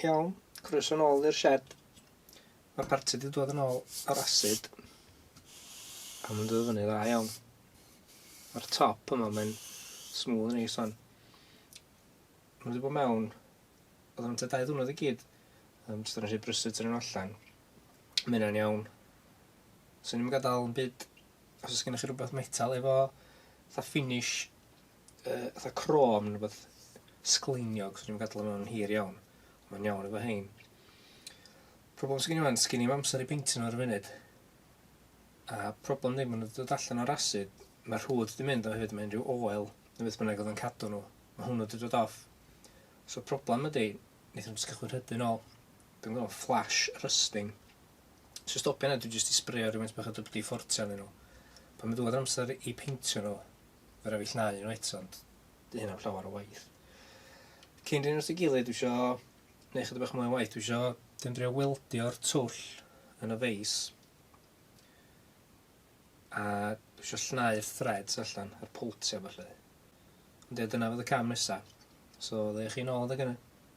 Iawn, croeso nôl i'r shed. Mae'r parti wedi dod yn ôl ar acid. A mae'n dod fyny dda iawn. Mae'r top yma, mae'n smooth yn ei son. Mae wedi bod mewn, oedd o'n dau ddwrnod i gyd. Um, Jyst yn rhaid brysyd yn allan. Mae hynna'n iawn. So ni'n gadael yn byd, os oes gennych chi rhywbeth metal efo, tha finish uh, fatha crom neu beth sgleiniog, so dwi'n gadael yma yn hir iawn. Mae'n iawn efo hein. Problem sy'n gen i fan, sgyn i'n amser i beintio nhw ar y funud. A problem ddim yn dod allan o'r asid, mae'r rhwyd wedi mynd o hyd mae unrhyw oel, neu beth bynnag oedd yn cadw nhw. Mae hwnnw wedi dod off. So problem ydy, wnaethon nhw'n cychwyn rhydyn ôl. Dwi'n gwybod, flash rusting. So stopio yna, dwi'n jyst i sbrio rhywun bach o dybdi ffortio nhw. Pan mae dod amser i peintio nhw, Fe raid fi llnau nhw eto ond 'di hynna 'im llawer o waith. Cyn dynnu nhw at ei gilydd dwi isio neu' chydig bach mwy o waith dwi isio dim drio weldio'r twll yn y feis a dwi isio llnau'r threads allan a'r pwltio felly. Ond ie dyna fydd y cam nesa. So ddeuwch chi nôl adeg ynny.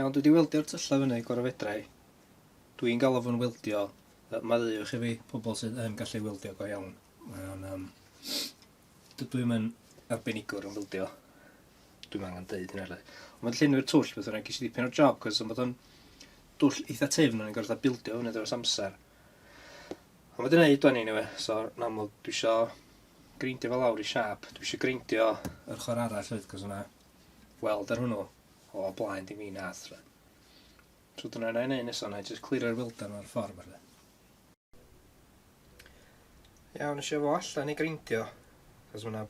Iawn, dwi wedi weldio'r tyllau fyny gorau fedrai. Dwi'n galw fo'n weldio. Mae ddeuwch i fi pobl sydd yn gallu weldio go iawn. Mae'n um, Dydw i'm yn arbenigwr yn bildio. Dwi'm angen deud hynna le. Ond mae'n llenwi'r twll beth yna, ges i ddipyn o'r job, cos ond bod o'n dwll eitha tyfn, o'n i'n gorfod bildio hwnna dros amser. Ond wedi gwneud o'n i'n ewe, so yn amlwg dwi isio greindio fel awr i siap, dwi isio greindio yr chor arall fyd, cos yna weld ar hwnnw o blaen di mi nath. So dyna yna i wneud nesaf, yna i just clirio'r weldan o'r ffordd. Iawn, eisiau fo allan i grindio, cos mae'na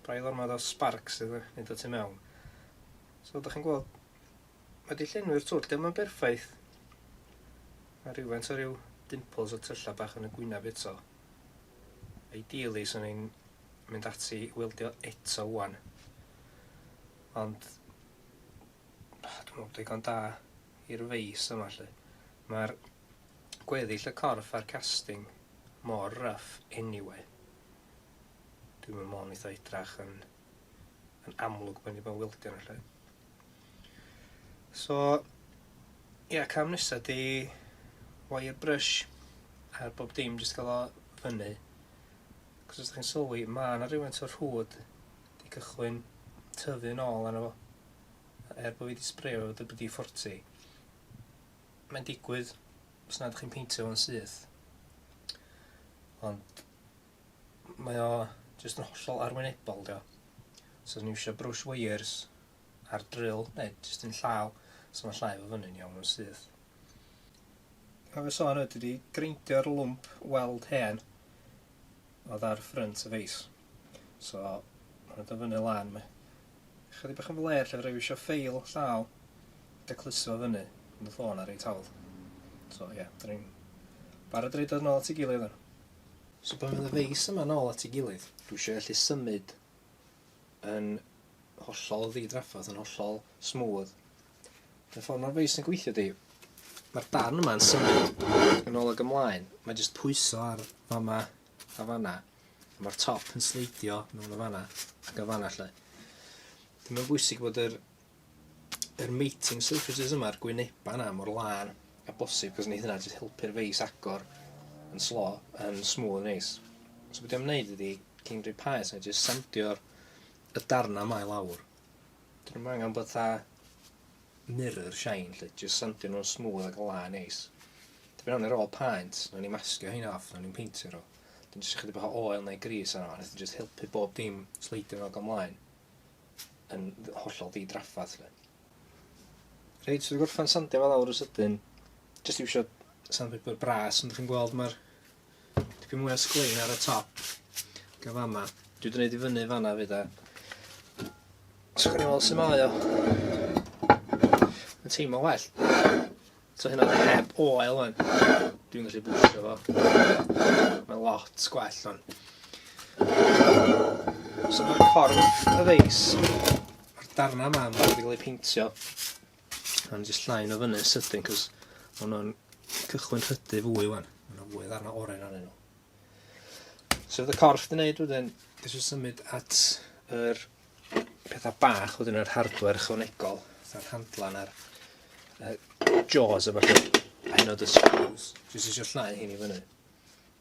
brail ormod o sparks sydd yn mynd o tu mewn. So, ydych chi'n gweld, mae di llenwi'r twll, dim yn berffaith. Mae rhywfaint o ryw dimples o tyllau bach yn y gwynaf eto. Ideally, so ni'n mynd ati i weldio eto wan. Ond, dwi'n meddwl bod digon da i'r feis yma, lle. Mae'r gweddill y corff a'r casting mor rough anyway. Dwi'n meddwl mo'n eitha idrach yn, yn amlwg bod ni bod wildio yn lle. So, ia, yeah, cam nesa di wire brush ar bob dim, jyst cael o fyny. Cos os da chi'n sylwi, mae yna rhywfaint o'r hwd di cychwyn tyfu'n ôl arno fo. Er bod fi wedi sbreo WD-40, mae'n digwydd os nad chi'n peintio fo'n syth. Ond mae o jyst yn hollol arwynebol, dio. So, ni eisiau brush wires ar drill, neu jyst yn llaw, so mae'n llai o fyny'n iawn yn syth. Pa fe sôn ydy wedi greindio'r lwmp weld hen oedd ar ffrynt y feis. So, mae'n dod fyny lan, mae Chydig bach yn flêr lle fedra i wisio ffeil llaw ac a cluso fo fyny yn y ffôn na reit hawdd. So ie, da ni'n barod i roid o nôl at ei gilydd ŵan. So pan fydd y feis yma nôl at ei gilydd, dwi isio gallu symud yn hollol ddi-drafferth, yn hollol smooth. Y ffordd mae'r feis yn gweithio di, mae'r darn yma yn symud yn ôl ag ymlaen, mae jyst pwyso ar fama Fatha fanna. A ma'r top yn sleidio mewn o fanna ac yn fanna lle. Dwi'n meddwl bwysig bod yr yr mating surfaces yma, yr gwyneba yna mor lân a bosib, cos neith hynna jyst helpu'r feis agor yn slo, yn smooth neis. So beth dwi'n wneud ydi, cyn rhoi paes, na jyst sandio'r y darna mae lawr. Dwi'n meddwl angen bod tha mirror shine 'lly, jyst sandio nhw'n smooth ac yn lân neis. Dipyn iawn ar ôl paent, nawn ni masgio hein off, nawn ni'n peintio nhw. Wedyn jyst ychydig bach o oil neu gris arno fo, nath jyst helpu bob dim sleidio nôl ac ymlaen yn hollol di-draffath 'lly. Reit, so wedi gorffen sandio fe lawr yn sydyn, jyst iwsio sandpaper bras ond chi'n gweld ma'r Dipyn mwy o sglein ar y top. Gan fama. Dwi wedi gwneud i fyny fanna fi da. Os chi'n ôl sy'n mae o. Yn teimlo well. So hynna oedd heb oel o'n. Dwi'n gallu bwysio fo. Mae lot gwell o'n. So mae'r corff y feis. Mae'r darna yma yn cael ei peintio. Nawn ni jyst llain o fyny sydyn, cos maen nhw'n cychwyn rhydu fwy wan. Maen nhw'n fwy ddarna oren arnyn nhw. So oedd y corff di wneud wedyn, dwi eisiau symud at yr pethau bach wedyn yr hardware ychwanegol, fatha'r handlan a'r uh, jaws a falle, a hyn o dy screws. Dwi eisiau llnau hyn i fyny.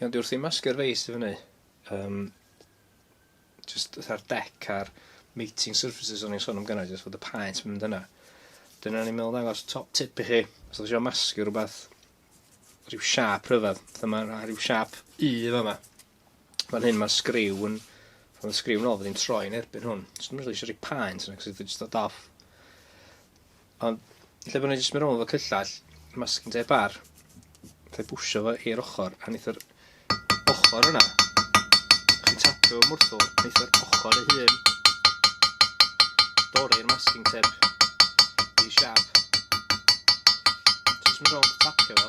Iawn, dwi wrth i masgu'r face i fyny. Um, just fatha'r deck a'r mating surfaces o'n i'n sôn am gynnau, just fod y paent yn mynd yna. Dyna ni'n meddwl ddangos top tip i chi. Os ydych chi'n masgu rhywbeth, rhyw siap rhyfedd, fatha mae rhyw siap U yma. Fan hyn mae'r sgriw yn... Fan y sgriw yn ôl, fyddi'n troi yn erbyn hwn. Jyst yn rili eisiau rhoi paent yna, cos jyst dod off. Ond, lle bod ni'n jyst mynd rhwng efo cyllall, masking tape ar, fe bwysio fo i'r ochr, a wneith yr ochr yna, chi'n tapio fo mwrthol, wneith yr ochr ei hun dorri'r masking tape i siap. Jyst mynd rhwng tapio fo.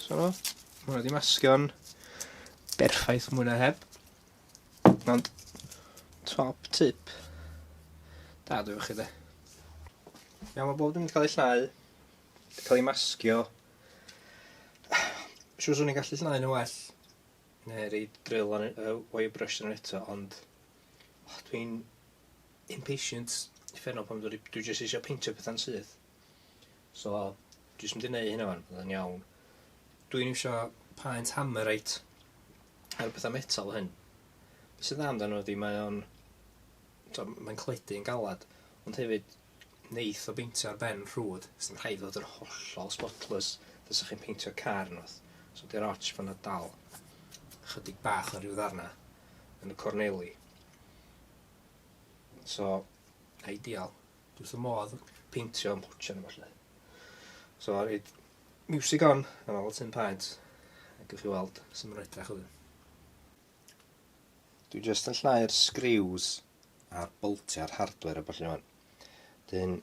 So, mae hwnna wedi masgio'n berffaith mwy na heb. Ond, top tip. Da, dwi'n chi de. Iawn, mae bob dim wedi cael ei llnau, wedi cael ei masgio. Siwr swn i'n gallu llnau nhw well, neu rei drill on uh, wire brush yn eto, ond oh, dwi'n impatient i ffenno pan dwi, dwi jyst eisiau peintio pethau'n syth. So, dwi jyst mynd i neud hynna fan, bydd yn iawn. Dwi'n iwsio paent hammerite ar bethau metal hyn. Be sy'n dda amdano ydy mae o'n... mae'n cledu yn galad, ond hefyd neith o beintio ar ben rhwyd, sy'n rhaid fod yn hollol spotless, fysa chi'n peintio car yn oth. So di'r arch fan na dal, chydig bach o rhyw ddarna yn y corneli. So, ideal. Does dim modd peintio am pwtio yma lle. So a reid music on yn ôl Tim Paent a gwych chi weld sy'n mynd edrach oedd. Dwi jyst yn llnau'r sgriws a'r boltiau'r hardware a falle fan. Dyn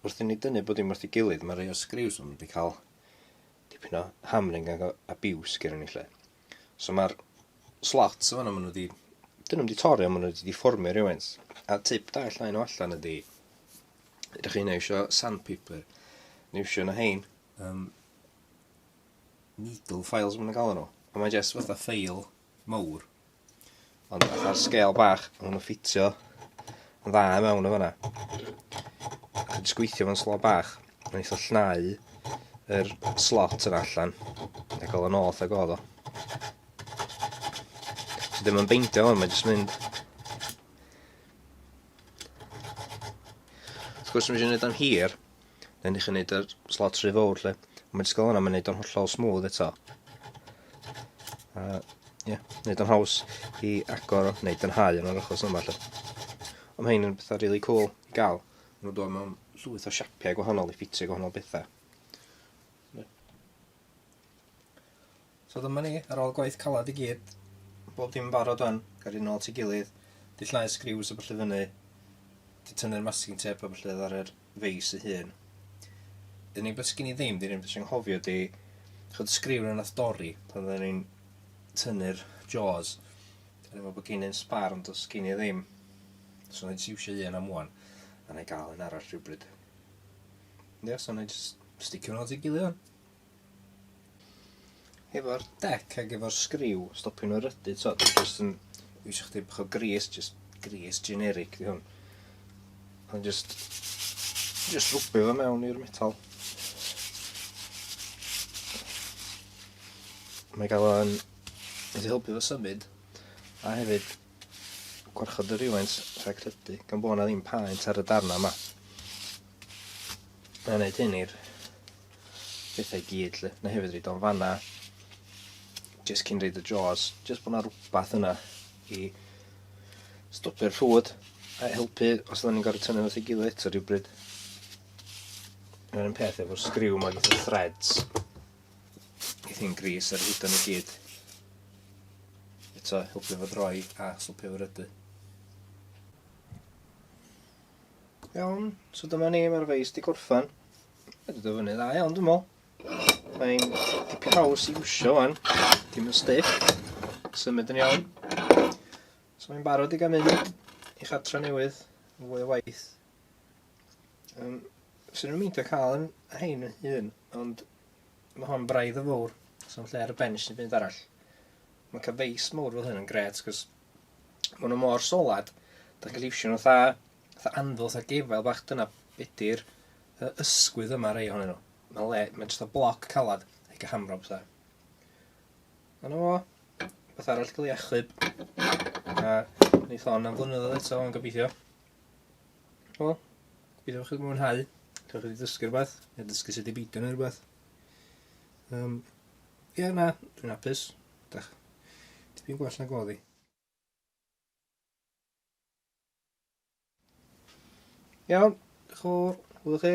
wrth i ni dynnu bod dim wrth i gilydd mae rei o'r sgriws yn wedi cael dipyn o hamring ac abuse gyda ni lle. So mae'r slots fanna maen nhw wedi... Dyn nhw'm wedi torri ond maen nhw wedi difformio rhywfaint. A tip da i llai nhw allan ydy... Ydych chi'n eisiau sandpaper? Neu eisiau na hein? Um, needle files maen nhw'n galw nhw. A mae jyst fatha ffeil mawr. Ond fatha'r sgêl bach, maen nhw'n ffitio yn dda i mewn yn fanna. Dwi'n just gweithio fo'n slo bach, yn eitha llnau yr slot yn allan, ac ôl yn ôl ag oedd o. So ddim yn beindio hwn, mae'n just mynd. Wrth gwrs, mae eisiau gwneud o'n hir, Neu ni chi'n neud yr slot rhy fawr lle. Mae disgol yna, mae'n neud o'n hollol smooth eto. A, ie, yeah, neud o'n haws i agor o, neu dynhau yn yr achos yma lle. Ond mae hyn yn bethau really cool i gael. Mae'n dod mewn llwyth o siapiau gwahanol i ffitio gwahanol bethau. So dyma ni, ar ôl gwaith calad i gyd, bob dim yn barod wan, gael rhywun ôl ti gilydd, di llnau sgriws a byllu fyny, di tynnu'r masking tape a byllu ar yr feis ei hun. Dyn ni beth sgyn i ddim, dyn ni'n beth sy'n nghofio di, chod sgriw na nath dori pan dyn ni'n tynnu'r jaws, dyn ni'n meddwl bod gen i'n sbar ond os gen i ddim, so na i siwsio un am wan, a na i gael un arall rhywbryd. Ie, so wna i jyst sticio nhw at ei gilydd wan. Efo'r dec ac efo'r sgriw, stopio nhw rydu, so, dwi jyst yn eisiau chdi bach o gris, jyst gris generic di hwn. Ond jyst, jyst rwbio fo mewn i'r metal. Mae gael o'n... Wedi helpu fo symud. A hefyd, Gwarchod y rywfaint rhag credu gan bod yna ddim paent ar y darnau yma. Mae'n gwneud hyn i'r bethau i gyd lle. Na hefyd reid o'n fanna. Just cyn reid y jaws. Just bod yna rhywbeth yna i stopio'r llwyd a helpu os ydyn ni'n gorfod tynnu wrth i gilydd eto rhywbryd. Mae'n un peth efo'r sgriw mae gyda threads. Bydd hi'n gris ar hyd yn y gyd. Eto, helpu fod roi a swpio fy rydy. Iawn, so dyma ni, mae'r feis di gorffan. Mae wedi dod fyny dda iawn, dwi'n meddwl. Mae'n dipyn haws i wsio fan, dim yn stiff. Symud yn iawn. So mae'n barod i gael mynd i chatra newydd, yn fwy o waith. Um, Swn i'n meindio cael yn hein yn hun, ond mae hon braidd yn fawr, so'n lle ar y bench sy'n fynd arall. Mae cael feis mawr fel hyn yn gret, cos mae nhw mor solad, da chi'n gallu iwsio nhw tha, tha anfil, tha gefael bach, dyna bedi'r ysgwydd yma rei ohonyn nhw. Mae'n le, mae'n just o bloc calad, ac a hamrob tha. Ond o, beth arall gael ei achub, a wneud hon am flynyddoedd eto, ond gobeithio. O, byddwch chi'n mwynhau. Cewch chi ddysgu rhywbeth, neu ddysgu sut i beidio neu rhywbeth. Um, ie, yeah, na, dwi'n apus. Dach, tipyn gwell na goddi. Iawn, chwr, hwyl chi.